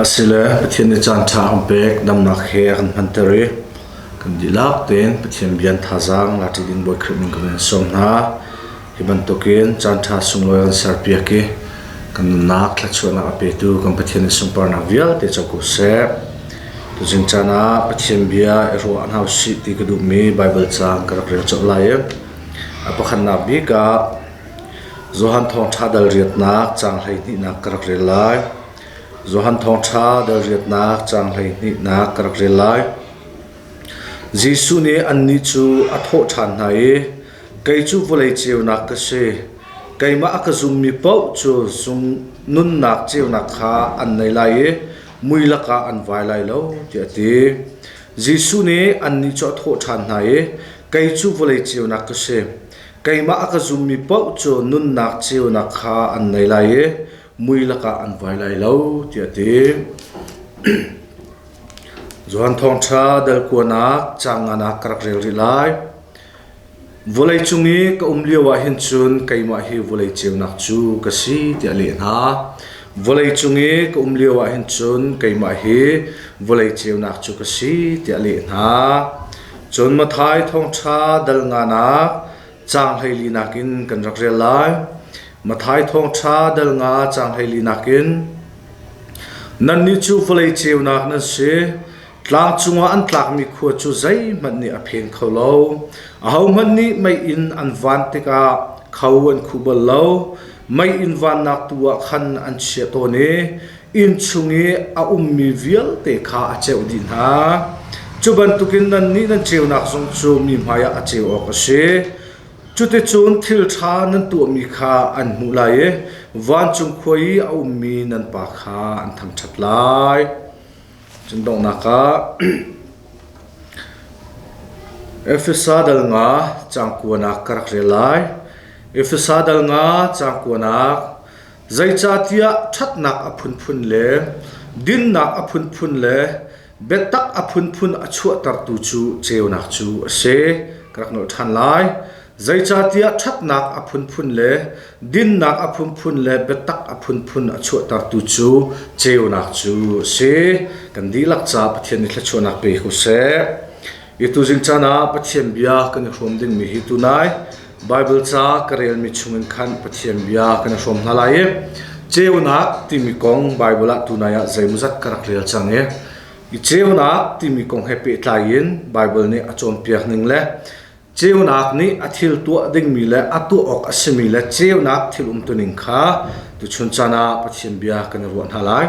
Asile Pathian nih caanṭha an pek damnak he a kan hmanter i kan dihlak tein Pathian bia an thazaang lati ding Bawi Khrih min ka vun sawm hna. Hi bantukin caanṭha sunglawi an serpiak i kan nunnak thluachuahnak a petu kan Pathian nih sunparnak vialte co ko seh. Tuzing caan ah Pathian bia i ruah hna usih ti ka duhmi Baibal caang ka rak rel colh lai i a pakhatnak bik ah Johan Thawngṭha dal riatnak caang hleihnihnak ka rak rel lai. Johan Thawngṭha dal riatnak caang hleihnihnak ka rak rel lai. Jesuh nih annih cu a thawh ṭhan hna i, Kei cu vawlei ceunak ka si. Keimah a ka zummi paoh cu zung nunnak ceunak kha an nei lai i mui lakah an vai lai lo, tiah a ti. Jesuh nih annih cu a thawh ṭhan hna i, Kei cu vawlei ceunak ka si. Keimah a ka zummi paoh cu nunnak ceunak kha an ngei lai i mui lakah an vuai lai lo tiah a ti. Johan Thawngṭha Delkuanak caang nganak ka rak rel rih lai. Vawlei cung i ka um lio ah hin cun keimah hi vawlei ceunak cu ka si tiah a leh hna. Vawlei cung i ka um lio ah hin cun keimah hi vawlei ceunak cu ka si tiah a leh hna. Cun Matthai thawngṭha dal nganak caang hleili nakin kan rak rel lai. Matthai thawngṭha dal nga caang hleili nakin Nannih cu vawlei ceunak nan si. Tlang cungah an tlakmi khua cu zeihmanh nih a pheng kho lo. Ahohmanh nih mei in an van tikah kho an khuh bal lo. Mei in vannak tu ah khan an chiah tawn i inn chung i a ummi vialte kha a ceuh dih hna. Cu bantukin nannih nan ceunak zong cu mi hmaiah a ceu awk a si. Cuticun thil ṭha nan tuahmi kha an hmuh lai i vancung khua i a ummi nan pa kha an thangṭhat lai. Cun donghnak ah Efesa dal nga cangkuanak ka rak rel lai. Efesa dal nga cangkuanak Zeicahtiah ṭhatnak a phunphun le dinnak a phunphun le biatak a phunphun a chuahtertu cu ceunak cu a si. Ka rak nolh ṭhan lai. Zeicahtiah ṭhatnak a phunphun le dinnak a phunphun le biatak a phunphun a chuahtertu cu ceunak cu a si. Kan dihlak ca Pathian nih thluachuahnak pe ko seh. Hi tuzing caan ah Pathian bia kan i hrawm dingmi hi tunai Baibal ca ka relmi chungin khan Pathian bia kan i hrawm hna lai i ceunak timi kong Baibal ah tunai ah zeimawzat ka rak rel cang i i ceunak timi kong he pehtlai in Baibal nih a cawnpiak ning le ceunak nih a thil tuah dingmi le a tuah awk a simi le ceunak thil umtuning kha tuchun caan ah Pathian bia kan i ruah hna lai.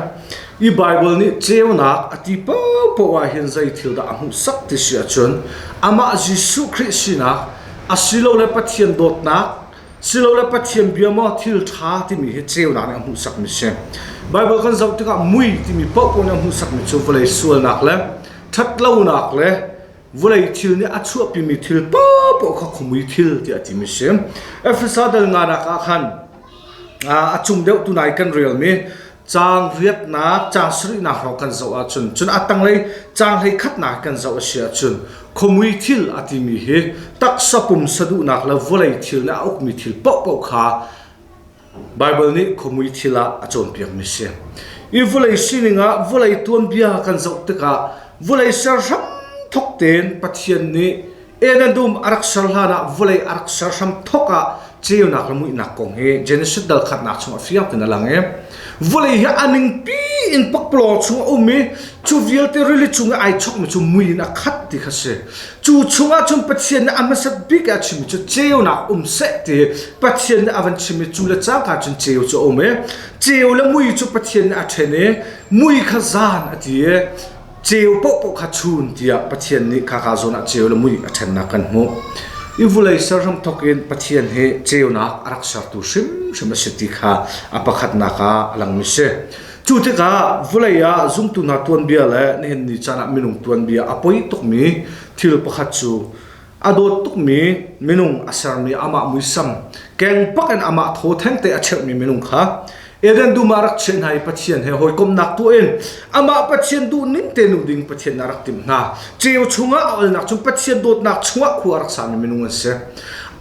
i Baibal nih ceunak a ti paohpaoh ahhin zei thil dah a hmuhsak ti si ahcun amah Jesuh Khrih sinak asilole Pathian dawtnak silole Pathian bia maw thil ṭha timi hi ceunak nih a hmuhsakmi si. Baibal kan zoh tikah mui timi paohpaoh nih a hmuhsakmi cu vawlei sualnak le ṭhatlonak le vawlei thil nih a chuahpimi thil paohpaoh kha khuamui thil tiah a timi si. Efesa dal nganak ah khan a cung deuh tu nai kan relmi Caang riatnak caang sarihnak hrawng kan zoh ahcun cun a tanglei caang hleikhatnak kan zoh a si ahcun khuamui thil a timi hi taksa pumsa duhnak le vawlei thil le a ukmi thil paohpaoh kha Baibal nih khuamui thil ah a cawnpiakmi a si. I vawlei sining ah vawlei tuanbia kan zoh tikah vawlei ser hram thok tein Pathian nih Eden dum a rak ser hlan ah vawlei a rak ser hram thawk ah ceunak le muihnak kong hi Genesis dal khatnak chung a fiang in a lang i vawlei hi a ningpi in pakpalawng chung a um i cu vialte rili cung i ai chokmi cu mui in a khat ti kha si cu chungah cun Pathian nih a hmasat bik a chimmi cu ceunak um seh ti Pathian nih a van chim i cu le cang kha cun ceu cu a um i ceu le mui cu Pathian nih a ṭhen i mui kha zan a ti i ceu paohpaoh kha chun tiah Pathian nih khaka zawn ah ceu le mui a ṭhennak kan hmuh i vulei ser hramthok in Pathian hi ceunak a rak sertu hrimhrim a si ti kha a pakhatnak ah a langmi si cu tikah vulei ah zumtu hna tuanbia le nihin ni caan ah minung tuanbia a poi tukmi thil pakhat cu A dawt tukmi minung a sermi amah muisam, kengpak in amah thaw thengte a cheuhmi minung kha Eden dum ah rak chiah hna i Pathian he hawikomnak tuah in amah Pathian duh ning te nu ding Pathian a rak tim hna. Ceu chungah a alnak cun Pathian dawtnak chungah khua a rak sami minung an si.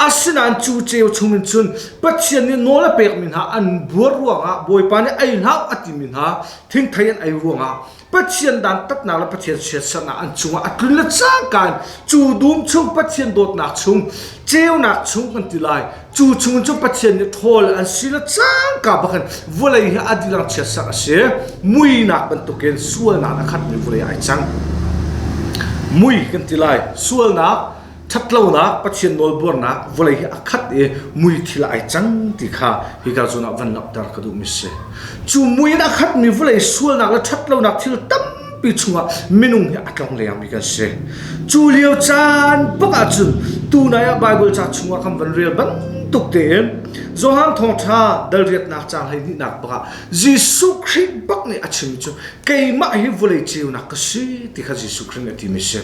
Asinain cu ceu chung in cun Pathian nih nawl a pekmi hna an buar ruangah Bawipa nih ei hlah a timi hna thingthei an ei ruangah Pathian dan tatnak le Pathian siasaknak an cungah a tlun le cangka in cu dum chung Pathian dawtnak chung ceunak chung kan ti lai cu chung cu Pathian nih ṭhawl an si le cangka bakin vawlei hi a dirang chiatsak a si muinak bantukin sualnak a khatmi vawlei ai cang mui kan ti lai sualnak Ṭhatlonak Pathian nawlbuarnak vawlei hi a khat i muithil ai cang ti kha hika cungah van langhter ka duhmi a si. Cu mui in a khatmi vawlei sualnak le ṭhatlonak thil tampi chungah minung hi a tlong lengmi kan si. Cu lio caan bak ahcun tunai ah Baibal ca chungah kan van rel bantuk tein Johan Thawngṭha dal riatnak caang hlehnihnak bak ah Jesuh Khrih bak nih a chim cu keimah hi vawlei ceunak ka si ti kha Jesuh Khrih nih a timi a si.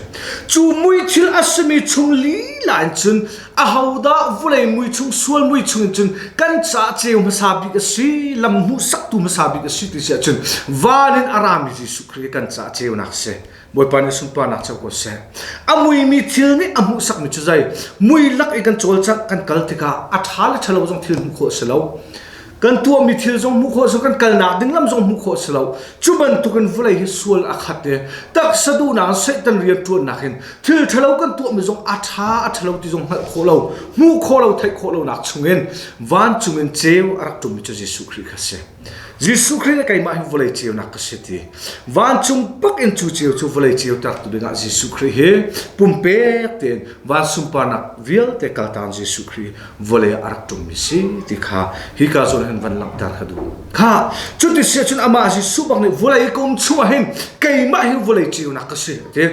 Cu mui thil a simi chung lila in cun ahodah vawlei mui chung sual mui chung in cun kan caah ceu hmasa bik a si lam hmuhsaktu hmasa bik a si ti si ahcun van in a rami Jesuh Khrih hi kan caah ceunak a si. Bawipa nih sunparnak cu ko seh. A muimi thil nih a hmuhsakmi cu zei mui lak i kan cawlcangh kan kal tikah a ṭha le ṭhalo zong thil hmuh khawh a si lo. Kan tuahmi thil zong hmuh khawh a si lo, kan kalnak ding lam zong hmuh khawh a si lo. Cu bantukin vawlei hi sual a khat i taksa duhnak in Satan rianṭuannak in thil ṭhalo kan tuahmi zong a ṭha a ṭhalo ti zong hngalh khawh lo, hmuh khawh lo, theih khawh lonak chungin vancung in ceu a rak ṭummi cu Jesuh Khrih kha a si. Jesuh Khrih le keimah hi vawlei ceunak ka si ti. Vancung bak in cu ceu cu vawlei ceu tertu dingah Jesuh Khrih hi pumpek tein van sunparnak vialte kaltaan Jesuh Khrih vawlei ah a rak ṭummi si ti kha hi ka zual hin van langhter ka duh. Kha cuti si ahcun amah Jesuh bak nih vawlei kum chungah hin keimah hi vawlei ceunak ka si a ti.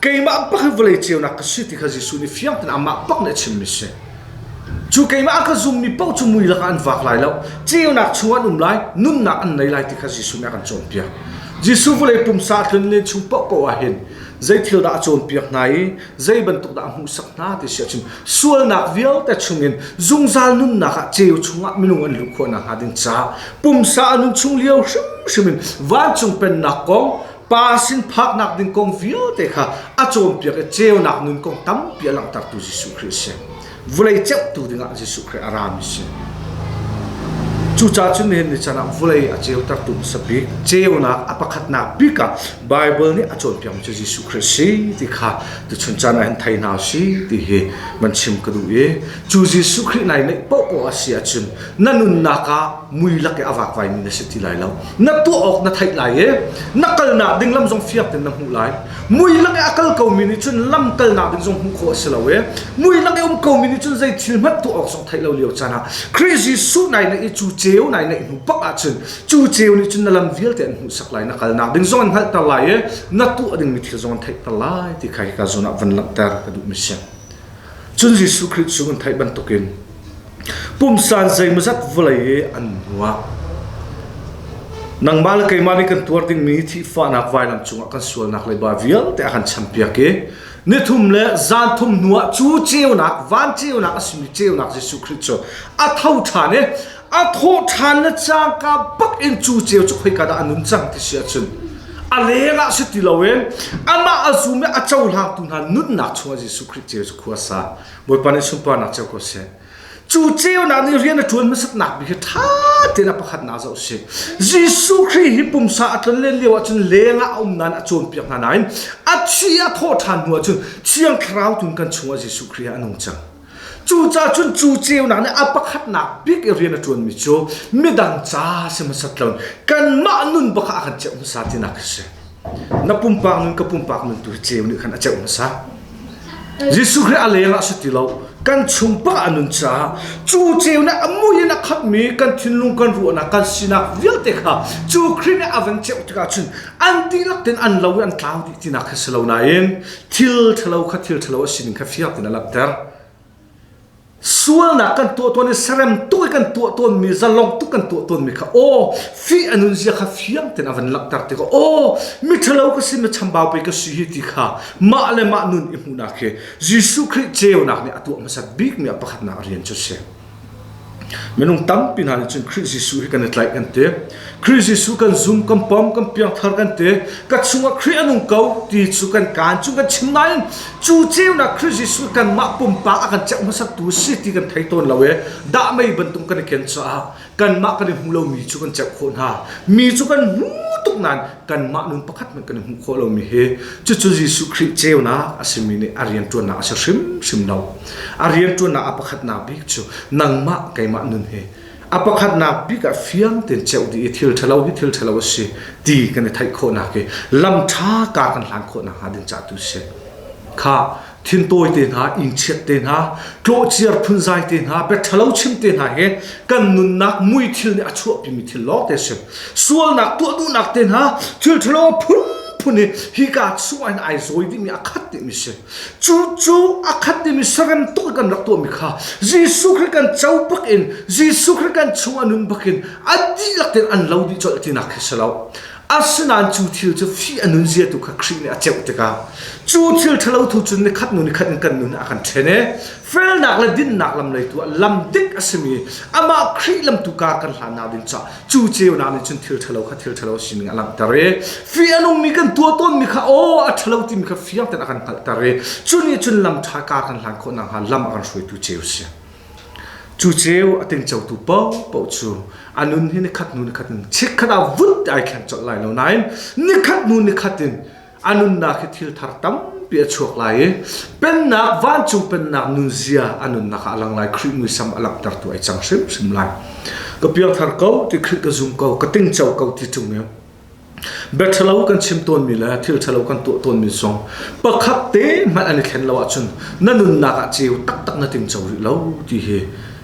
Keimah bak vawlei ceunak ka si ti kha Jesuh nih fiang tein amah bak nih a chimmi a si. Cu keimah a ka zummi paoh cu mui lakah an vak lai lo. Ceunak chungah an um lai, nunnak an nei lai ti kha Jesuh nih a kan cawnpiak. Jesuh vawlei pumsa a tlun len chung paoh paoh ah hin zei thil dah a cawnpiak hna i zei bantuk dah a hmuhsak hna ti si ahcun sualnak vialte chungin zungzal nunnak ah ceu chungah minung an luh khawh nakhnga ding ca pumsa a nun chung lio hrimhrim in vancung pennak kong Pa sin phaknak ding kong vialte kha a cawnpiak i ceunak nun kong tampi a langhtertu Jesuh Khrih a si. Vulei ceuhtu dingah Jesuh Khrih a rami a si. Cucaah cun nihin ni canah vulei a ceutertu hmasa bik ceunak a pakhatnak bik ah Baibal nih a cawnpiakmi cu Jesuh Khrih si ti kha tuchun caan ah hin thei hna si ti hi man chim ka duh i cu Jesuh Khrih nai neih paohpaoh a si ahcun na nunnak ah mui lak i a vakvaimi na si ti lai lo. na tuah awk na theih lai i na kalnak ding lam zong fiang tein na hmuh lai mui lak i a kal komi nih cun lam kalnak ding zong hmuh khawh a si lo i mui lak i um komi nih cun zei thil hmanh tuah awk zong theih lo lio caan ah Christ Jesuh nai neih i cu ceu nai neih hnu pak ah cun cu ceu nih cun na lam vialte an hmuhsak lai na kalnak ding zong an hngalhter lai i na tuah dingmi thil zong an theihter lai ti kha hi ka zawn ah van langhter ka duhmi si Cun Jesuh Khrih cu an theih bantukin pumsan zeimawzat vawlei i an nuah. Nangmah le keimah nih kan tuar dingmi thihfahnak vailam cungah kan sualnak leiba vialte a kan champiak i nithum le zanthum hnuah cu ceunak, van ceunak a simi ceunak Jesuh Khrih cu a tho ṭhan i a thawh ṭhan le cangka bak in cu ceu cu khoika dah a nun cang ti si ahcun a lengah si ti loin amah a zum i a cohlangtu hna nunnak chungah Jesuh Khrih ceu cu khua sa Bawipa nih sunparnak ceu ko seh cu ceunak nih rian a ṭuan hmasatnak bik hi ṭha tein a pakhatnak zoh si Jesuh Khrih hi pumsa a tlon len lio ahcun lengah a um nain a cawnpiak hna nain a thi a thawh ṭhan hnu ahcun Thiang Thlarau tun kan chungah Jesuh Khrih hi a nung cang Cucaah cun cu ceunak nih a pakhatnak bik i rian a ṭuanmi cu midang ca si hmasat lo kanmah nun bakah a kan ceuh hmasa tinak a si. Na pumpak nun ka pumpak nun tu hi ceu nih khan a ceuh hmasa. Jesuh Khrih a leng ah a si ti lo. Kan chung pa a nun caah cu ceu nih a mui in a khammi kan thinlung kan ruahnak kan sinak vialte kha cu Khrih nih a van ceuh tikah cun an dihlak tin an lo i an tlau dih tinak khi si lo nain thil ṭhalo kha thil ṭhalo a sin kha fiang tein a langhter. Sualnak kan tuah tawn i serem tuk i kan tuah tawnmi, zalong tuk kan tuah tawnmi kha aw, fih a nunzia kha fiang tein a van langhter tikah aw, mi ṭhalo ka si, mi chambau pei ka si hi ti kha mah le mah nun i hmuhnak hi Jesuh Khrih ceunak nih a tuah hmasat bikmi a pakhatnak a rian cu a si. Minung tampi hna nih cun Khrih Jesuh hi kan i tlaih kan ti. Khrih Jesuh kan zum, kan pawm, kan piangthar kan ti. Ka chungah Khrih a nung ko ti cu kan kaan chung kan chim nain cu ceunak Khrih Jesuh kanmah pumpak a kan ceuh hmasatu si ti kan thei tawn lo i dah mei bantuk kan i ken caah kanmah kan i hmu lomi cu kan ceuh khawh hna mi cu kan hmu tuk nain kanmah nun pakhat hmanh kan i hmu khawh lomi hi cucu Jesuh Khrih ceunak a simi nih a rianṭuannak a si hrimhrim lo a rianṭuannak a pakhatnak bik cu nangmah keimah nun hi a pakhatnak bik ah fiang tein ceuh dih i thil ṭhalo hi thil ṭhalo a si ti kan i theih khawhnak hi lam ṭha ka kan hlan khawh nakhnga ding cah tu si kha Thin tawite hna, ingchiat te hna, tlawhciar phunzai te hna, bia ṭhalo chim te hna hi kan nunnak muithil nih a chuahpimi thil lawngte a si. Sualnak tuah duhnak te hna thil ṭhalo phunphun hi hika chungah hin ai zawi dihmi a khat dihmi si. Cu cu a khat dihmi sarem tuk kan rak tuahmi kha Jesuh Khrih kan co bak in Jesuh Khrih kan chungah nun bak in a dihlak tein an lo dih colh tinak khi si lo. Asinain cu thil cu fih a nunziatu kha Khrih nih a ceuh tikah cu thil ṭhalo thu cun nikhat nu nikhat in kan nun ah a kan ṭhen i felnak le dinnak lam lei tu ah lam dik a simi amah Khrih lam tu kaa kan hlannak ding caah cu ceunak nih cun thil ṭhalo kha thil ṭhalo sining a langhter i fih a nungmi kan tuah tawnmi kha aw a ṭhalo timi kha fiang tein a kan hngalhter i cu nih cun lam ṭha kaa kan hlan khawh nakhnga lam a kan hruaitu ceu a si. Cu ceu a tingcotu paohpaoh cu a nun hi nikhat hnu nikhat in chikkhat ah vun ti ai thleng colh lai lo nain nikhat hnu nikhat in a nunnak hi thil thar tampi a chuak lai i Pennak, vancung Pennak nunzia a nunnak ah a lang lai. Khrih muisam a langhtertu ai cang hrimhrim lai. Ka piangthar ko ti Khrih ka zum ko, ka tingco ko ti ṭung e. Bia ṭhalo kan chim tawnmi le thil ṭhalo kan tuah tawnmi zong pakhat te hmanh an i thlen lo ahcun na nunnak ah ceu taktak na tingco rih lo ti hi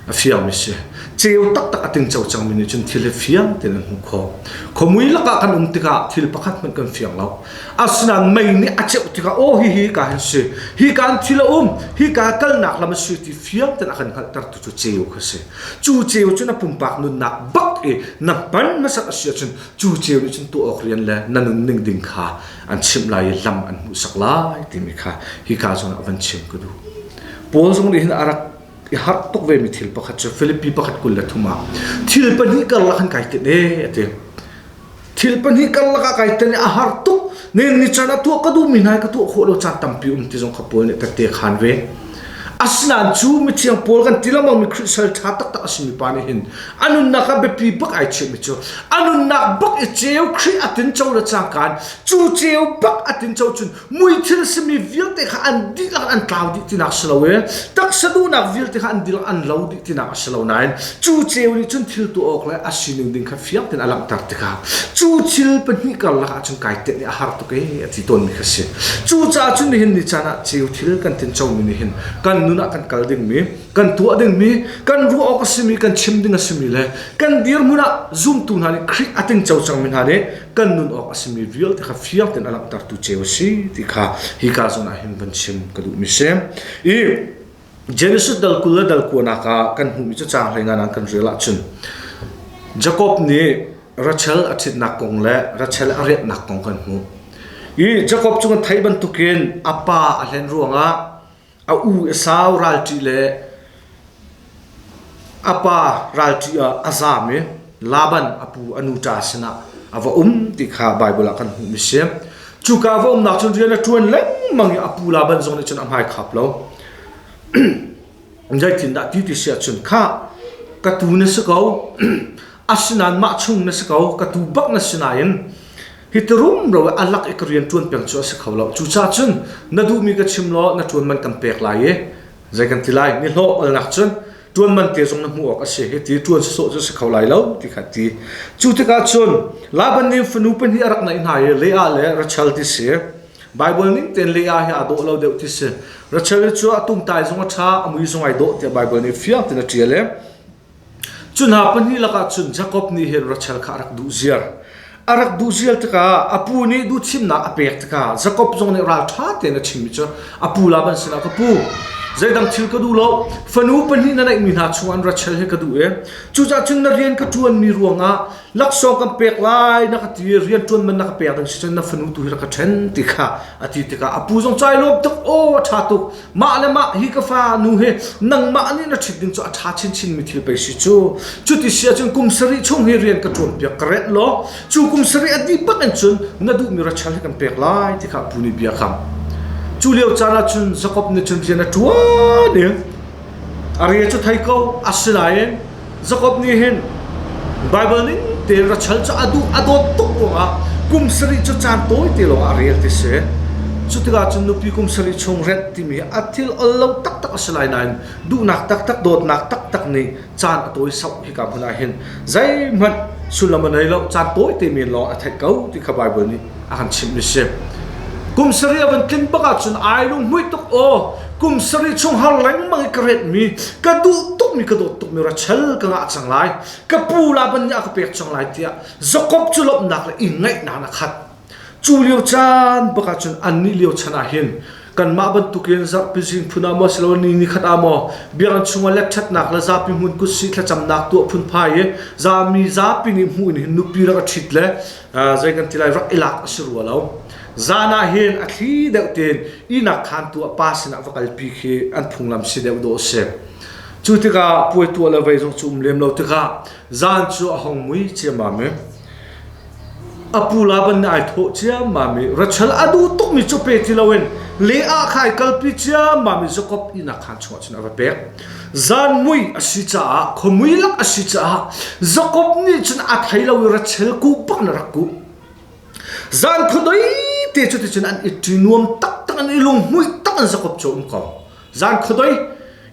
a fiangmi si. Ceu taktak a tingco cangmi nih cun thil hi fiang tein an hmuh khawh. Khuamui lakah kan um tikah thil pakhat hmanh kan fiang lo. Asinain mei nih a ceuh tikah aw hihi ka hin si, hi ka an thil a um, hi ka kalnak lam a si ti fiang tein a kan hngalhtertu cu ceu kha a si. Cu ceu cu na pumpak nunnak bak i na hman hmasat a si ahcun cu ceu nih cun tuah awk rian le na nunning ding kha an chimh lai i lam an hmuhsak lai timi kha hi ka zongah van chim ka duh Paul zong nih hin a rak i harh tuk vemi thil pakhat cu Philippi pakhat kul le thum ah thil pahnih karlak an kai tin e a ti thil pahnih karlak a kai tin a har tuk nen ni chan a tuah ka duhmi hna ka tuah khawh lo caan tampi um ti zong kha Paul nih ka te khan ve asinain cu mithiang Paul kan ti lengmang mi Christian tha taktak a simi pa nih hin a nunnak ah biapi bak ai chimhmi cu a nunnak bak i ceu Khrih a tinco le cangkan cu ceu bak a tinco cun muithil simi vialte kha an dihlak an tlau dih tinak si lo i taksa duhnak vialte kha an dihlak an lo dih tinak a si lo nain cu ceu nih cun thil tuah awk le a sining ding kha fiang tein a langhter tikah cu thil pahnih karlak ah cun kai tiah nih a har tuk e a ti tawnmi kha si cucaah cun nihin ni caan ah ceu thil kan tincomi nih hin kan nun ah kan kal dingmi kan tuah dingmi kan ruah awk a simi kan chim ding a simi le kan dirhmun ah zumtu hna nih Khrih a ting co cangmi hna nih kan nun awk a simi vialte kha fiang tein a langhtertu ceu a si ti kha hi ka zon ah hin van chim ka duhmi si i Genesis dal kul le dal kuanak ah kan hmuhmi cu caang hleina nan kan rel ahcun Jacob nih Rachel a ṭhitnak kong le Rachel a riatnak kong kan hmuh i Jacob cung a theih bantukin a pa a hlen ruangah A u a sau ralṭih le a pa ralṭih ah a zaam i Laban a pu a nuṭa sinah a va um ti kha Baibal ah kan hmuhmi a si. Cuka va umnak cun rian a ṭuan lengmang i a pu Laban zong nih cun a hmai khap lo. Zeitindah ti ti si ahcun kha ka tuu na si ko, asinain mah chung na si ko, ka tuu bak na si nain Hi ti rumro i a lak i ka rian ṭuan peng cu a si kho lo. Cucaah cun na duhmi ka chim law na ṭuanman kan pek lai i zei kan ti lai. Ni hlawh alnak cun ṭuanman te zong na hmuh awk a si. Hi ti ṭuan sawsawh cu a si kho lai lo ti kha ti. Cu tikah cun Laban nih fanu pahnih a rak naih hna i Leah le Rachel ti si. Baibal ning tein Leah hi aa dawh lo deuh ti si. Rachel hi cu a tumtai zong a ṭha, a mui zong ai dawh tiah Baibal nih fiang tein a ṭial i Cu hna pahnih lakah cun Jakob nih hin Rachel kha a rak duh ziar. A rak duh ziar tikah a pu nih duhthimnak a pek tikah Jakob zong nih ralṭha tein a chimmi cu a pu la ban sinah ka pu zeidang thil ka duh lo fanu pahnih na neihmi hna chungah Rachel hi ka duh i cucaah cun na rian ka ṭuanmi ruangah laksawng kan pek lai na ka ti i rian ṭuanman na ka pek ding si cun na fanu tu hi rak ka ṭhen ti kha a ti tikah a pu zong cailawm tuk aw a ṭha tuk Mah le mah hi ka fanu hi nangmah nih na ṭhit ding cu a ṭha chinchin mi thil pei si cu. Cuti si ahcun kum sarih chung hi rian ka ṭuan piak ka renh law cu kum sarih a dih pah in cun na duhmi rachel hi kan pek lai ti kha a pu nih bia a kam. Cu lio caan ah cun Jakob nih cun rian a ṭuan i a rian cu thei ko. Asinain Jakob nih hin Baibal ning tein ra chal cu a duh a dawt tuk ruangah kum sarih cu caan tawi te lawngah a rel ti si. Cu tikah cun nupi kum sarih chung rent timi a thil ol lo taktak a si lai nain duhnak taktak dawtnak taktak nih caan a tawi sauh hika hmun ah hin zeihmanh sullam a nei lo caan tawi te men lawng a theih ko ti kha Baibal nih a kan chimhmi si. Kum sarih a van tlin bak ahcun ai lunghmuih tuk aw. Kum sarih chung har lengmang i ka retmi, ka duh tukmi, ka dawt tukmi rachel ka ngah cang lai. Ka pu Laban nih a ka pek cang lai tiah Jakob cu lawmhnak le i ngaihnak a khat. Cu lio caan bak ahcun annih lio chan ah hin kanmah bantukin zarhpi zing phun ah maw siloin ni ni khat ah maw biakinn chungah letṭhatnak le zapi hmun kut sih thlacamnak tu a phunphai i zami zapi nih hmuh in hin nupi rak a ṭhit le zei kan ti lai rak i lak a si rua lo zan ah hin a thli deuh tein ihnak khantu a pa sinah va kalpi khi an phunglam si deuh dawh a si cu tikah puai tuah le vei zong cu um lem lo tikah zan cu a hong mui ciammam i a pu la ban ai thawh ciammam i rachal a duh tukmi cu pe ti loin le ah khai kalpi ciammam i zakop ihnak khan chungah cun a va pek Zanmui a si caah, khuamui lak a si caah Jakob nih cun a thei lo i ratchel kuh pak in a rak kuh. Zan khuadei te cu ticun an i ṭi nuam taktak in i lunghmuih tak in Jakob cu a um ko. Zan khuadei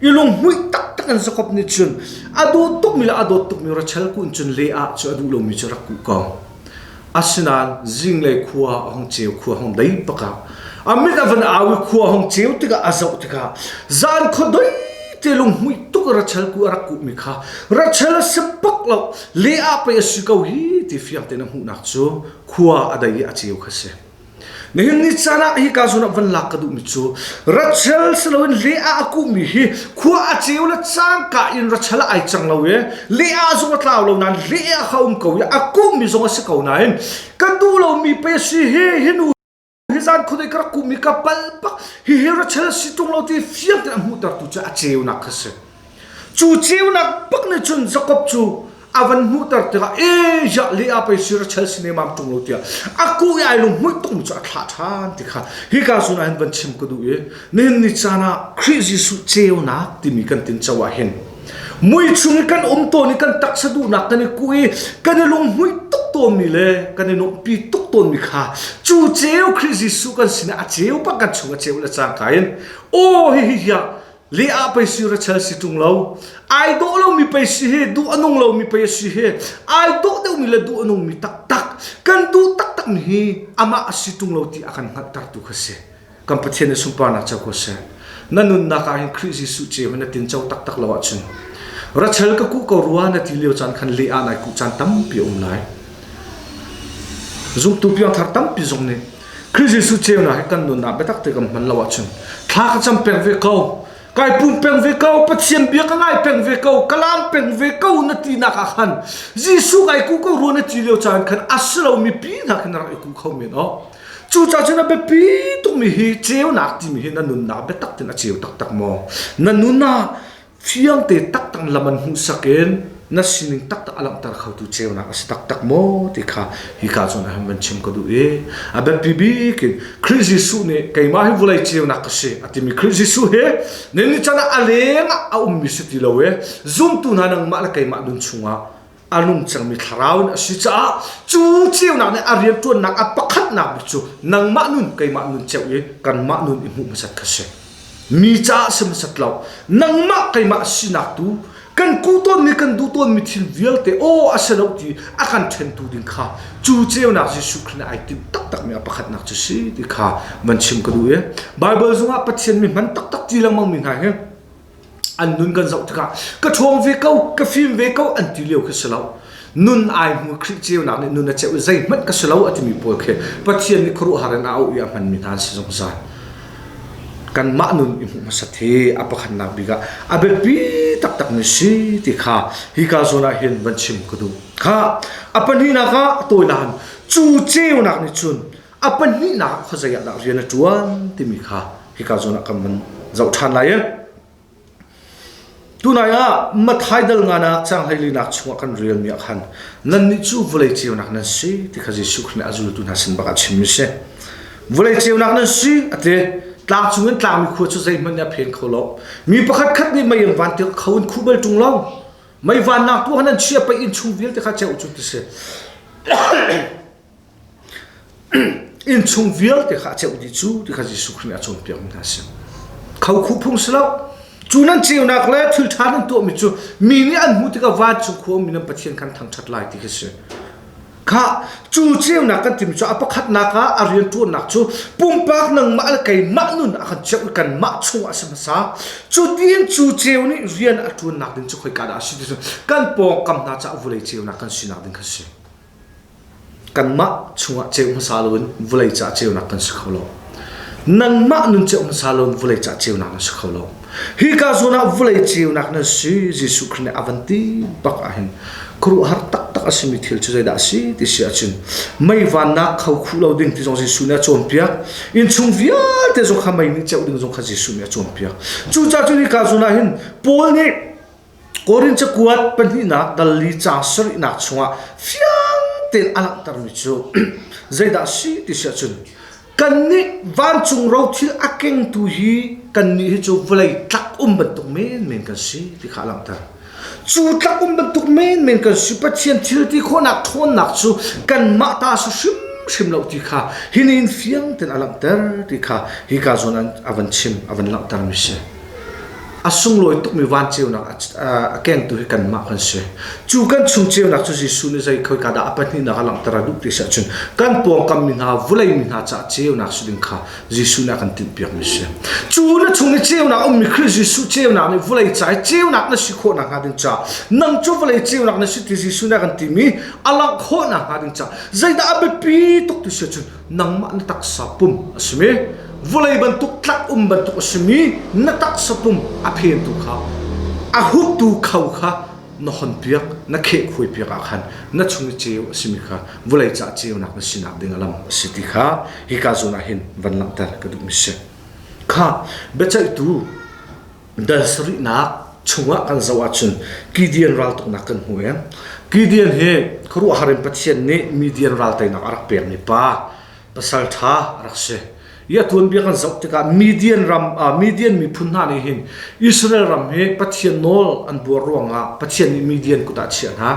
i lunghmuih taktak in Jakob nih cun a duh tukmi le a dawt tukmi ratchel kuh in cun le ah cu a duh lomi cu a rak kuh ko. Asinain zinglei khua a hong ceu khua hong dei bak ah a mit a van au i khua hong ceu tikah a zoh tikah zan khua doi te lunghmuih tuk rachel ku a rak kuhmi kha rachel a si bak lo le ah pei a si ko hi ti fiang tein a hmuhnak cu khua a dei i a ceu kha a si. Nihin ni caan ah hi ka zun ah van lak ka duhmi cu ratchel si loin le ah a kuhmi hi khua a ceu le cangka in ratchel ah ai cang lo i le ah zong a tlau lo nain le ah kha um ko i a kuhmi zong a si ko nain ka duh lomi pe si hi hi nu hi zan khudei ka rak kuhmi ka palpak hihi ratchel si ṭung lo ti fiang tein a hmuhtertu cu a ceunak kha si. Cu ceunak bak nih cun Jakob cu a van hmuhter tikah e ziah le a pei sir a chel si nemam ṭung lo tiah a kuh i ai lung hmuih tungmi cu a thlah ṭhan ti kha hika cun ah hin van chim ka duh i nihin ni caan ah Khrih Jesuh ceunak timi kan tinco ah hin mui chung i kan um tawn i kan taksa duhnak kan i kuh i kan i lunghmuih tuk tawnmi le kan i nuamhpi tuk tawnmi kha cu ceu Khrih Jesuh kan sinah a ceu bak kan chung a ceu le cangka in aw hihi hiah le ah pei si Rachel si ṭung lo ai dawh lomi pei si hi duh a nung lomi pei si hi ai dawh deuhmi le duh a nungmi taktak kan duh taktak mi hi amah a si ṭung lo ti a kan hngalhter tu kha si kan Pathian i sunparnak co ko seh na nunnak ah hin Khrih Jesuh ce na tinco taktak lo ahcun Rachel ka kuh ko rua na ti lio caan khan le ah nai kuh caan tampi a um lai zumtu piangthar tampi zong nih Khrih Jesuh ceunak hi kan nunah biatak te kan hman lo ahcun thla ka cam peng ve ko kai pum peng ve ko pathian bia ka ngai peng ve ko ka lam peng ve ko na ti nak ah khan Jesuh kai ku ko ruan a ti lio caan khan a si lo mi pi nak in rak i ku kho men o cu ca cun a biapi tuk mi hi ceunak timi hi na nunnak biatak tin a ceu taktak maw na nunah fiangte taktak lam an hmuhsak in na sining taktak a langhter khotu ceunak a si taktak maw ti kha hi ka cun aham van chim ka duh i a biapi bik in Khrist Jesuh nih keimah hi vulei ceunak ka si a timi Khrist Jesuh hi ni ni can ah a leng ah a ummi si ti lo i zumtu hna nangmah le keimah dun chungah a nung cangmi thlarau in a si caah cu ceunak nih a rianṭuannak a pakhatnak bik cu nangmah nun keimah nun ceu i kanmah nun i hmuh hmasat kha si mi caah si hmasat lo nangmah keimah sinak tu kan kuh tawnmi kan duh tawnmi thil vialte aw a si lo ti a kan ṭhentu ding kha cu ceunak Jesuh Khrih nih ai timh taktakmi a pakhatnak cu si ti kha van chim ka duh i Baibal zungah Pathian mi hman taktak ti lengmangmi hna hi an nun kan zoh tikah ka ṭhawng ve ko ka fim ve ko an ti lio khi si lo nun ai hmu Khrih ceunak nih nun a cheuh i zeihmanh ka si lo a timi pawl khi Pathian nih khuaruahhar in a auh i a hmanmi hna an si zungzal kanmah nun i hmuh hmasat hi a pakhatnak bik ah a biapi taktak mi si ti kha hi ka zawn ah hin van chim ka duh kha a pahnihnak ah tawilan cu ceunak nih cun A pahnihnak khuazei ah dah rian a ṭuan timi kha hika zawn ah kan van zoh ṭhan lai i tunai ah Mathai dal nganak cang hleilinak chungah kan relmi ah khan nannih cu vawlei ceunak nan si ti kha Jesuh Khrih nih a zultu hna sin bak a chimmi si vawlei ceunak nan si a ti tlang chung in tlangmi khua cu zeihmanh nih a pheng kho lo mi pakhat khat nih mei an van tirh kho in khu bal ṭung lo mei vannak tu han an chia pei inn chung vialte kha ceu cu ti si Innchung vialte kha a ceuh dih cu ti kha Jesuh Khrih nih a cawnpiak mi hna a si. Khokhu phung si lo. Cu nan ceunak le thil ṭha nan tuahmi cu mi nih an hmuh tikah vancung khuami nan Pathian khan thangṭhat lai ti khi si. Kha cu ceunak kan timi cu a pakhatnak ah a rianṭuannak cu pumpak nangmah le keimah nun a kan cheuh kanmah chungah a si hmasa. Cu tiin cu ceu nih rian a ṭuannak ding cu khoika dah a si ti cu kan pawngkam hna caah vulei ceunak kan sinak ding kha a si. kanmah chungah ceu hmasa loin vulei caah ceunak kan si kho lo. Nanmah nun ceu hmasa loin vulei caah ceunak nan si kho lo. Hika zuan ah vulei ceunak nan si Jesuh Khrih nih a van ti bak ahhin khuaruahhar taktak a simi thil cu zeidah a si ti si ahcun mei vannak kho khuh lo ding ti zong Jesuh nih a cawnpiak. Innchung vialte zong kha mei nih ceuh ding zong kha Jesuh nih a cawnpiak. Cucaah cun hika zuan ah hin Paul nih Korin cakuat pahnihnak dali ca sarihnak chungah fiang tein a langhtermi cu zeidah a si ti si ahcun kannih vancung rothil a kengtu hi kannih hi cu vawlei tlak um bantuk menmen kan si ti kha a langhter. Cu tlak um bantuk menmen kan si Pathian thilti khawhnak ṭhawnnak cu kanmah ta si hrimhrim lo ti kha hi nihin fiang tein a langhter ti kha hi ka zawn an a van chim a van langhtermi a si. A sunglawi tukmi vanceunak a kengtu hi kanmah kan si. Cu kan chung ceunak cu Jesuh nih zei khoi dah a pahnihnak a langhter a duh ti si ahcun kan pawngkam mi hna, vulei mi hna caah ceunak si ding kha Jesuh nih a kan timhpiakmi a si. Cu na chung i ceunak ummi Khrih Jesuh ceunak nih vulei ca i ceunak na si khawh nakhnga ding caah nang cu vulei ceunak na si ti Jesuh nih a kan tim i a langh khawh nakhnga ding caah zeidah a biapi tuk ti si ahcun nangmah na taksa pum a simi vulei bantuk tlak um bantuk a simi na taksa pum a phentu kha a hutu kho kha na honpiak na kheh khuai piak ah khan na chung i ceu a simi kha vulei ca ceunak na sinak ding a lam a si ti kha hi ka zun ah hin van langhter ka duh mi si kha biaceihtu dal sarihnak chungah kan zoh ahcun Gideon raltuknak kan hmu i Gideon hi khuaruahhar in Pathian nih Midian ral teinak a rak pekmi pa pasalṭha a rak si i a tuanbia kan zoh tikah Midian ram ah Midian miphun hna nih hin Israel ram hi Pathian nawl an buar ruangah Pathian nih Midian kut ah a chiah hna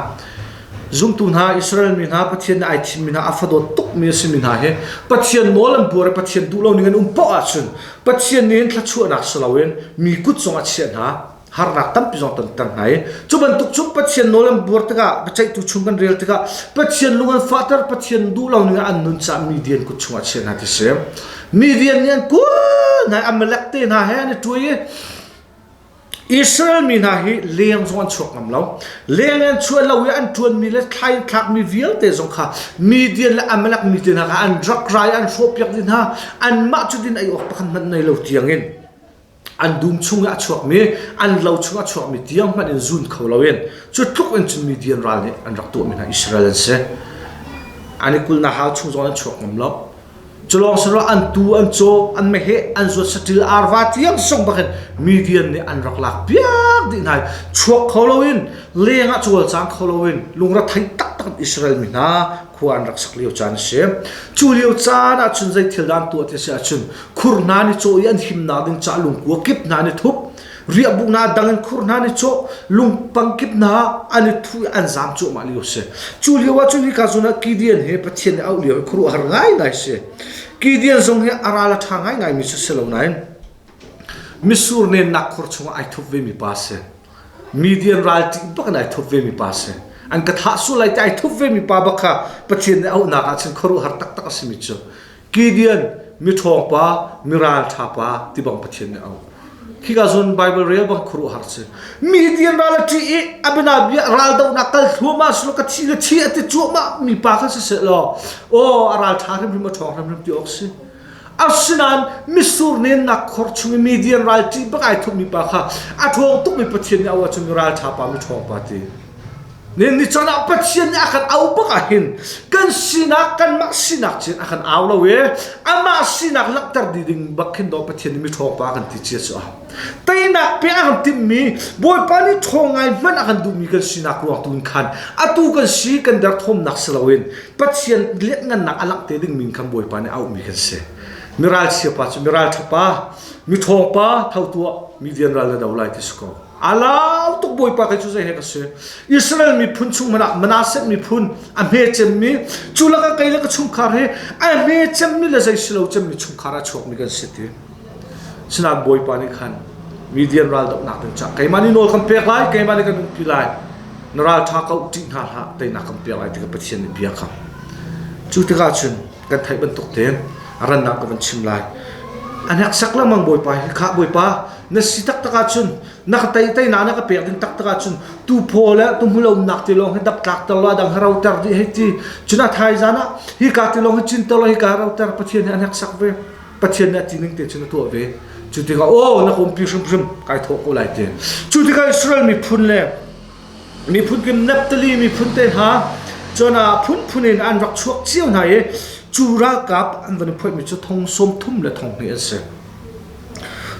zumtu hna Israel mi hna Pathian nih ai thimmi hna a fadawt tukmi a simi hna hi Pathian nawl an buar i Pathian duh lo ning an um poah ahcun Pathian nih hin thluachuahnak si loin mi kut zong a chiah hna. Harnak tampi zong ton ter hna i cu bantuk cu Pathian nawl an buar tikah biaceihtu chung kan rel tikah Pathian lung an fahter Pathian duh lo ning ah an nun caah mi rian kut chung ah chiah hna ti si. Mi rian nih an kul hna Amalek te hna he an i ṭui i Israel mi hna hi leng zong an chuak ngam lo. Leng an chuah lo i an ṭuanmi le thlai an thlakmi vialte zong kha Midian le Amalek mi te hna kha an rak ra i an hrawhpiak dih hna. Anmah cu din ei awk pakhat hmanh nei lo tiangin an dum chung i a chuakmi, an lo chung a chuakmi tiang hmanh in zun kho loin cu tluk in cun Midian ral nih an rak tuahmi hna Israel an si. An i kul hna hau chung zong an chuak ngam lo. Culawng sinah an tu an caw an meheh an zuat saṭil arva tiang sung bakin mi vian nih an rak lak piak dih hna i chuak kho loin leng ah cual cang kho loin lungre thei taktak in Israel mi hna khua an rak sak lio caan a si. Cu lio caan ah cun zei thil dah an tuah ti a si ahcun khur hna nih caw i an himnak ding ca lungkua kip hna nih thup riahbuknak dang in khur hna ni chaw lungpang kip hna an i thu an zam cuahmah lio si cu lio ah cu hi ka zun ah Gideon he Pathian ne auh lio khuru har ngai ngai si Gideon zong hi aral a tha ngai ngai mi si lo nain misur ne nak khur chung ai thup ve mi pa si Midian ral ting bak in ai thup ve mi pa si an ka thah su lai te ai thup ve mi pa bak kha Pathian ne auh nak ah cun khuru har tak tak a si mi cu Gideon miṭhawng pa, miraan ṭha pa ti bang Pathian nih a um. Khika zun Baibal rel bang khuaruahhar si. Mi Gideon ral a ṭih i a bianabia raldohnak kal thluahmah si lo ka thi ka thi a ti cuahmah mi pa kha si seh law aw a ral ṭha hrimhrim a ṭhawng hrimhrim ti awk si. Asinain mitsur nennak khor chung i Midian ral ṭih bak ai thup mi pa kha a ṭhawng tuk mi Pathian nih a auh ahcun mi ral ṭha pa mi ṭhawng pa ti. Ni caan ah Pathian nih a kan au bak ahhin kan sinak kanmah sinak ci in a kan au lo i amah sinak langhter dih ding bak khin daw Pathian nih miṭhawpa kan ti ci a si. Teinak pe a kan timhmi Bawipa nih ṭhaw ngai hmanh a kan duhmi kan sinak ruangtu in khan atu kan si kan derthawmnak si loin Pathian lianhngannak a langh te dingmi in khan Bawipa nih auhmi kan si. Miral chiapa cu miral ṭhapa, miṭhawpa tho tuah mi vian ral na do lai ti si ko. Alau tuk Bawipa kai cu zei he ka si Israel miphun chungman ah Manasseh miphun a hme cemmi cu laka kei le ka chungkhar hi a hme cemmi le zei si lo cemmi chungkhar a chuakmi kan si ti sinah Bawipa nih khan Midian raldohnak ding cah keimah nih nawl kan pek lai keimah nih kan nunpi lai na ralṭha ko ṭih hna hlah teinak kan pek lai ti ka Pathian nih bia kha cu tikah cun kan theih bantuk tein rannak ka van chim lai a hnek sak lengmang Bawipa hi kha Bawipa na si taktak ahcun na ka tei tei na na ka pek ding taktak ahcun tu phaw le tu hmulonak ti lawng hi dap tlak ter law dang roter dih hei ti cuna thai zan ah hi ka ti lawng hi cin ter law hi ka roter pathian hi an hek sak ve pathian nih a ti ning te cun a tuah ve cu tikah o na kompi hrimhrim kai thawh ko lai te cu tikah Israel miphun le miphun kim Naptali miphun te ha cuna phun phun in an rak chuak cio hna i cu ralkap an van i phoih mi cu thong som thum le thong hnih an si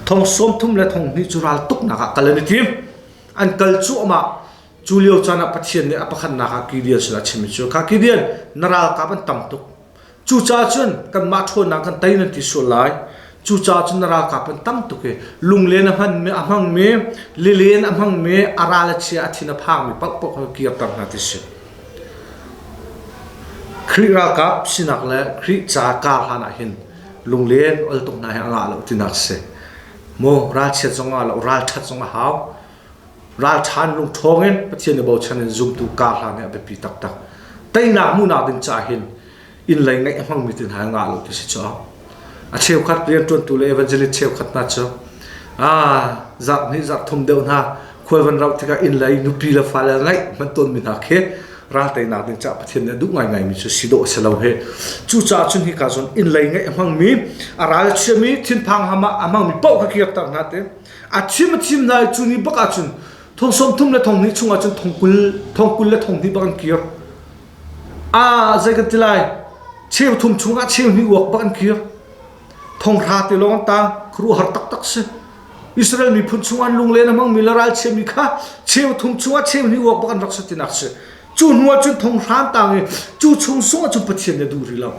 Thong sawm thum le thong hnih cu raltuknak ah kal an i tim. An kal cuahmah. Cu lio caan ah Pathian nih a pakhatnak ah Gideon sinah a chim i cu kha Gideon na ralkap an tam tuk. Cucaah cun kanmah ṭhawnnak kan tei nan ti sual lai. Cucaah cun na ralkap an tam tuk i lunglen a hmanmi a hmangmi, lilen a hmangmi, a ral a chia a thin a phangmi paohpaoh kha kirter hna ti a si. Khrih ralkap sinak le Khrih ca kar hlanah hin lunglen ol tuk hna hi a ngah lo ti nak si. Maw ralchiat zong a lo ralthat zong a hau. Ralthan lung thawng in Pathian i bochan in zumtu ka hlan hi a biapi taktak. Teinak munak ding ca hin in lei ngeih hmang mi tin ha ngah lo ti si cho. A cheukhat rian tuantu le evangelist cheukhat hna cu ah zak ni zak thum deuh hna khual van rauh tikah inn lei nupi le fale ngaih hman tawnmi hna khi ralteinak ding caah Pathian nih a duh ngaingaimi cu si dawh a si lo he cucaah cu hnika cun inn lei ngaih a hmangmi a ral chiami thinphang ham ah a hmangmi paoh kha kirter hna te a thim a thim hna i cu ni bak ah cun thong sawm thum le thong hnih chungah cun thong kul thong kul le thong hnih bak an kir a zei kan ti lai cheu thum chungah cheu hnih uak bak an kir Thonghra te lawng ta khuruhar taktak si. Israel miphun chungah lunglen a hmangmi le ralchiami kha cheu thum chungah cheu hnih uak bak an rak si tinak si. Cu hnuah cun thonghran tang i cu chung sungah cun Pathian nih a duh rih lo.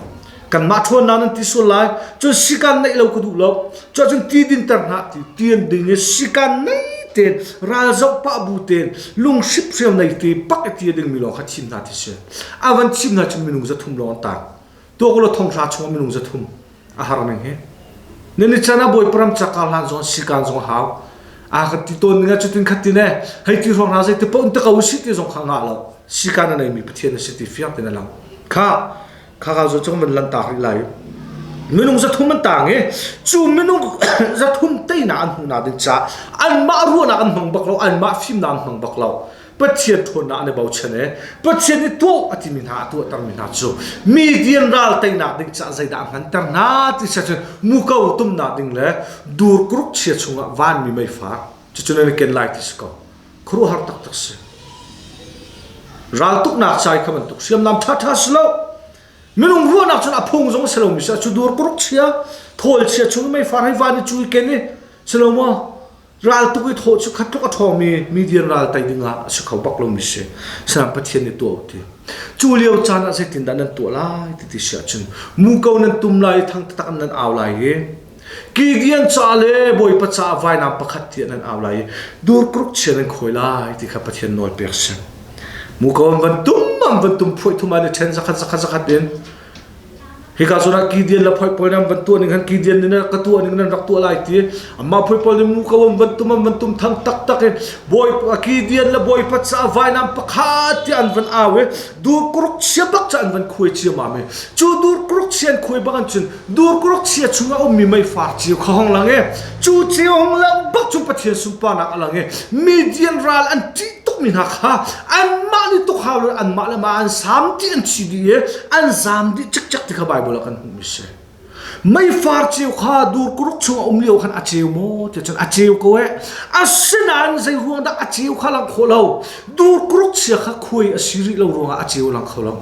Kanmah ṭhawnnak nan ti sual lai. Cun sikan neih lo ka duh lo. Cuah cun ti dinter hna ti ti an ding i sikan nei tein ralzoh pah bu tein lunghriphreu nei te pak i ti a dingmi lawng kha thim hna ti si. A van thim hna cun minung za thum lawng an tang. tuakula thonghra chung minung zathum a har ning hi nan i chan a bawi param caka hlan zong sikan zong hau a ka ti ton nga chutin khatin e hei ti rong ra zei te pon te ka u si ti zong kha nga lo sikan nei mi pathian si ti fiak tin lang kha kha ka zo chung man lan ta ri lai minung zathum an tang i chu minung zathum teina an huna ding cha an ma ruana an hmang bak lo an ma fim na an hmang bak lo Pathian ṭhawnnak an i bochan i Pathian i tuah a timi hna a tuahtermi hna cu median ral teinak ding caah zeidah a hnganter hna ti siah cun muko tumnak ding le dur kuruk chia chungah vanmi meifak cucu nan i ken lai ti si ko khuaruahhar taktak si raltuknak ca i kha bantuk hriamnam ṭhaṭha si lo minung ruahnak cun a phung zong si lomi si cu dur kuruk chia thawl chia chung meifar hei van i cu i ken i si lo maw Raltuk i thaw cu khat tluk a ṭhawng mi median ral tei dingah a si kho bak lomi si. Sinain Pathian nih tuah u ti. Cu lio caan ah zeitindah nan tuah lai ti ti si ahcun muko nan tum lai i thang taktak nan au lai i kigian ca le bawipa caah vainam pakhat tiah nan au lai i durkruk chia nan khawi lai ti kha Pathian nawl pek a si. Muko an van tum, an van tum phuai thum ah ni ṭhen zakhat zakhat zakhat in Hika cun ah Gideon le phoi pawl nih an van tuah ning khan Gideon nih ka tuah ning nan rak tuah lai ti amah phoi pawl nih mu ko an van tum an van tum thang taktak in bawi Gideon le bawipa caah vainam pakhat tiah an van au i dur kuruk chia bak ca an van khuai ciamam i cu dur kuruk chia an khuai bak an cun dur kuruk chia chungah ummi meifar cio kha hong lang i cu cio hong lang bak cu Pathian sunparnak a lang i Midian ral an ṭih tukmi hna kha anmah nih tuk hau lo anmah le mah an sam dih an thi dih i an zam dih cikcek ti kha Baibal ah kan hmuhmi a si meifar ceu kha dur kuruk chung a um lio khan a ceu maw ti cun a ceu ko e asinain zei ruang dah a ceu kha lang kho lo dur kuruk chia kha khuai a si rih lo ruangah a ceu lang kho lo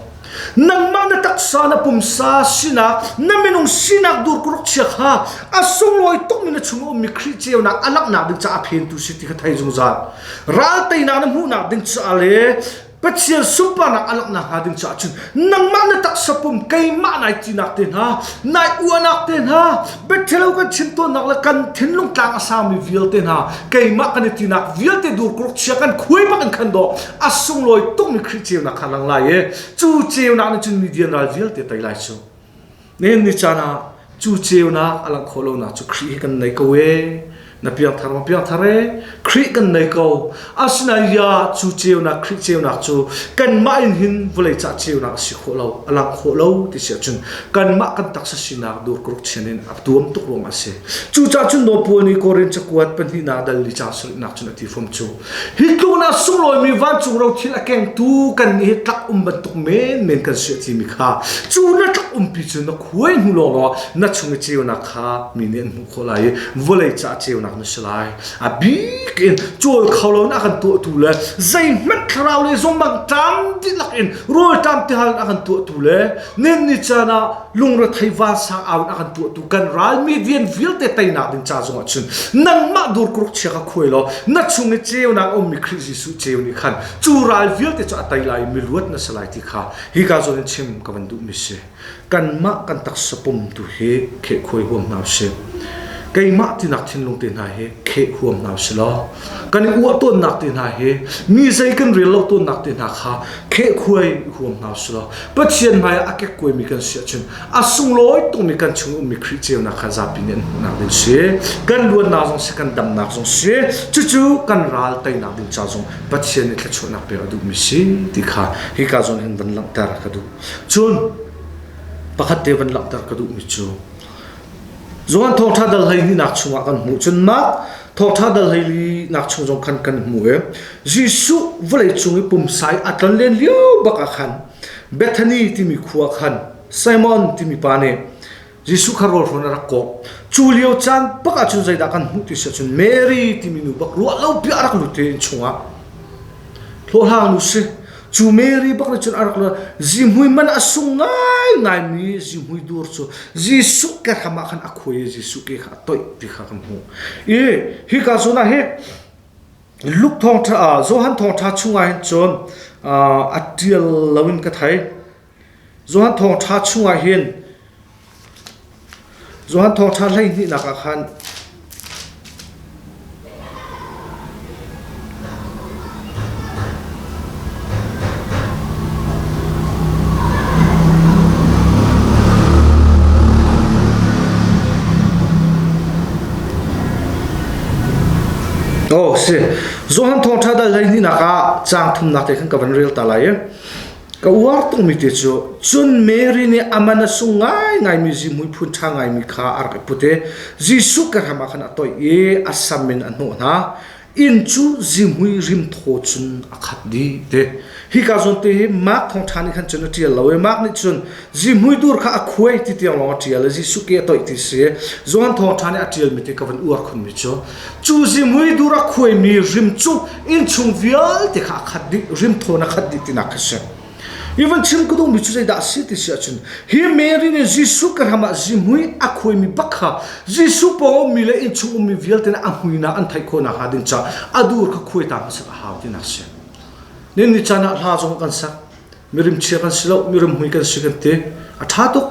Nangmah na taksa na pumsa sinak na minung sinak dur kuruk chia kha a sunglawi tuk mi na chung a ummi Khrih ceunak a langhnak ding caah phentu si ti kha thei zungzal. Ral teinak na hmuhnak ding caah le Pathian sunparnak a langhnak hnga ding caah cun nangmah na taksa pum keimah nai tinak te hna nai uanak te hna Biaṭhelo kan chim tuahnak le kan thinlung tlang a sami vialte hna keimah kan i tinak vialte dur kuruk chia kan khuai bak in khan daw a sunglawi tukmi Khrih ceunak kha lang lai i cu ceunak nih cun mi dianral vialte tei lai cu nihin ni caan ah cu ceunak a langh khawh lonak cu Khrih he kan nei ko ee na piangthar ma piangthar e khrih kan nei ko asinain ya cu ceunak khrih ceunak cu kanmah in hin vawlei cah ceunak a si khawh lo a lang khawh lo ti si ahcun kanmah kan taksa sinak dur kuruk chin in a tuam tuk ruang a si cucah cun nopuani korin cakuat pahnihnak dal li ca sarihnak cun a ti fom cu hi tluk na sunglawimi vancung ro thil a kengtu kan nih hi tlak um bantuk men men kan si a timi kha cu na tlak umpi cu na khuai hnu lawng na chung i ceunak kha mi nih an hmuh ko lai i vawlei ca ceunak na si lai a bik in cawl kho lonak kan tuahtu le zeihmanh thlarau le zongmang tam dihlak in rawltam te hal a kan tuahtu le nin ni caan ah lungrethei va sang aun a kan tuahtu kan ralmi vian vialte teinak ding ca zongah chun nangmah dur kuruk chia ka khuai lo na chung i ceunak um mi Khrih Jesuh ceu ni khan cu ral vialte cu a tei lai mi luat na si lai ti kha hi ka zon in chim ka van duh mi si Kanmah kan taksa pum tu hi kheh khuai huam hna usih. Keimah tinak thinlung te hna hi kheh huam hna usih law. Kan i uah tawnnak te hna hi mi zei kan rel lo tawnnak te hna kha kheh khuai huam hna usih law. Pathian hmai ah a kek kuai mi kan si ahcun a sunglawi tukmi kan chung ummi Khrih ceunak kha zapi nih an hmuhnak ding si. Kan luatnak zong si, kan damnak zong si. Cucu kan ral teinak ding ca zong Pathian nih thluachuahnak pek a duhmi si ti kha hika zawn hin van langhter ka duh. Cun pakhat te van langhter ka duhmi cu Zohan thawngṭha dal hlei hninak chungah kan hmuh cun mah thawngṭha dal hleinak chung zong khan kan hmu i Jesuh vawleicung i pumsai a tlon len lio bak ah khan Bethani timi khua khan Simon timi pa nih Jesuh kha rawl hrawn a rak kawh. Cu lio caan bak ah cun zeidah kan hmuh ti si cun Mary timi nu bak ruah lo piah a rak lut i inn chungah hlawhhlang nu si cu Mary bak nih cun a rak lut zihmui man a sung ngaingai mi zihmui dur cu Jesuh ke hram ah khan a khuai i Jesuh ke kha a toih ti kha kan hmuh i hika cunah hi Luke thawngtha Johan thawngtha chungah hin cun a tial loin ka thei Johan thawng ṭha chungah hin Johan thawng ṭha hleihnihnak ah khan Oh si Johan thawngṭha dal hleihnih nak ah cang thumnak te khan ka van rel ta lai i Ka uar tukmi te cu cun Mary nih a man a sung ngaingaimi zihmui phun ṭha ngaimi kha a rak i put i Jesuh kehram ah khan a toih i a sam in a hnawh hna. Inn cu zihmui rimthaw cun a khat dih ti. Hika zawn te hi Mark thawngṭha nih khan cun a ṭial lo i Mark nih cun Zihmui dur kha a khuai ti tiang lawng a ṭial i Jesuh ke a toih ti si. Johan Thawngṭha nih a ṭialmi ti ka van uar khunmi cu cu zihmui dur a khuaimi rim cu innchung vialte kha a khat dih, rim thawn a khat dih tinak khi si. Hi van chim ka duhmi cu zeidah a si ti si ahcun hi Mary nih Jesuh ke hram ah zihmui a khuaimi bak kha Jesuh pawng ummi le innchung ummi vialte nih a hmuinak an theih khawh nakhnga ding caah a dur kha khuai ta hmasat a hau tinak a si. Ninni caan ah hla zong kan sak. mirim chia kan si lo mirim mui kan si kan ti a tha tuk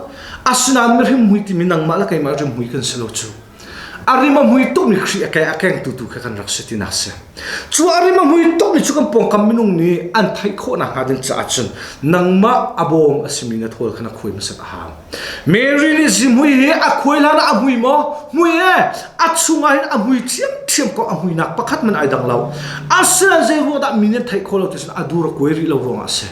asinain mirim mui timi nangmah le keimah rim mui kan si lo cu arim a mui tuk mi khri a keng a keng tu tu kha kan rak si ti nak si cu arim a mui tuk mi cu kan pawngkam minung nih an theih khawh nak hnga ding caah cun nangmah a bawm a simi na thawl kha na khui masat a hang Mary nih zihmui hi a khuailan ah a hmui maw? Hmui e, a chungah hin a hmui ṭhiamṭhiam ko a hmuinak pakhat man ai dang lo. Asinain zei ruah dah mi nih an theih khawh lo ti cun a dur a kuai rih lo ruangah a si.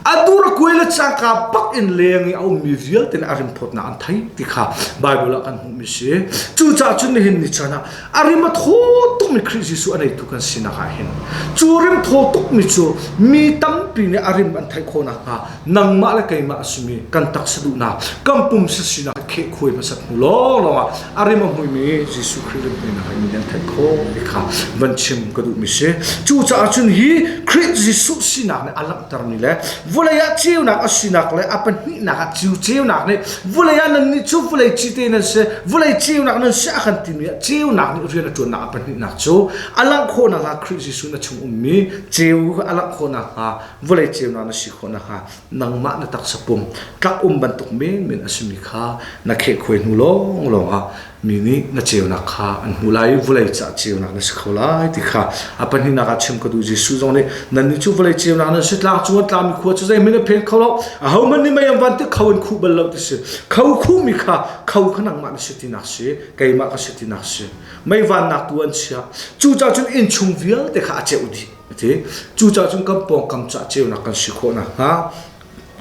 A dur a kuai le cangka bak in leng i a ummi vialte nih a rinphawtnak an thei ti kha Baibal ah kan hmuhmi si. Cucaah cun nihin ni chan ah a rim a thaw tukmi Khrih Jesuh a neitu kan sinak ah hin cu rim thaw tukmi cu mi tampi nih a rim an theih khawh nakhnga nangmah le keimah a simi kan taksa duhnak kan pumsa sinak kheh khuai hmasat hnu lawng lawng ah a rim a hmuimi Jesuh Khrih rimhmainak in an theih khawh mi kha van chim ka duhmi si cucaah cun hi Khrih Jesuh sinak nih a langhter mi le vawlei ah ceunak a sinak le a pahnihnak ah ceu ceunak nih vawlei ah nan nih cu vawlei cite nan si vawlei ceunak nan si a kan timi ah ceunak nih rian a ṭuannak a pahnihnak cu a langh khawh nakhnga Khrih Jesuh na chung ummi ceu a langh khawh nakhnga vawlei ceunak na si khawh nakhnga nangmah na taksa pum tlak um bantuk menmen a simi kha na khehkhuai hnu lawnglawng ah mi nih na ceunak kha an hmuh lai i vawlei caah ceunak na si kho lai ti kha a pahninak ah chim ka duh Jesuh zong nih nannih cu vawlei ceunak na si tlak cu tlami khua cu zeihmanh a phel kho lo a homan nih mei van te kho in khu bal lo ti si kho khu mi kha kho kha nangmah na si ti nak si keimah ka si ti nak si mei van nak tu an chia cucah cun inn chung vialte kha a ceuh dih a ti cucaah cun kan pawngkam cah ceunak kan si khawh nakhnga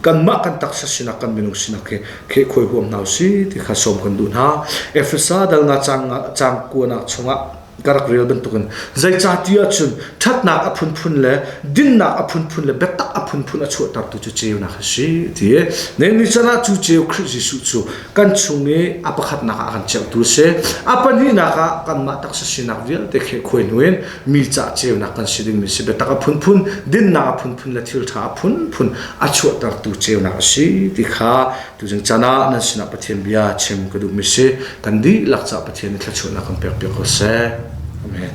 kanmah kan taksa sinak kan minung sinak he khe khuai huam hna usih ti kha sawm kan duh hna efesa dal nga cang cang kuanak chungah ka rak rel bantukin zeicahti ahcun ṭhatnak a phunphun le dinnak a phunphun le biatak a phunphun a chuahtertu cu ceunak a si ti ne ni canah cu ceu Khrih Jesuh cu kan chung i a pakhatnak ah kan cheuhtu a si a pahnihnak ah kanmah taksa sinak vialte khe khuai hnuin mi cah ceunak kan si dingmi si biatak a phunphun dinnak a phunphun le thil ṭha a phunphun a chuahtertu ceunak a si ti kha tuzing can ah nan sinah Pathian bia chim ka duhmi si kan dihlak cah Pathian i thluachuahnak kan pek piak ko seh. Amen.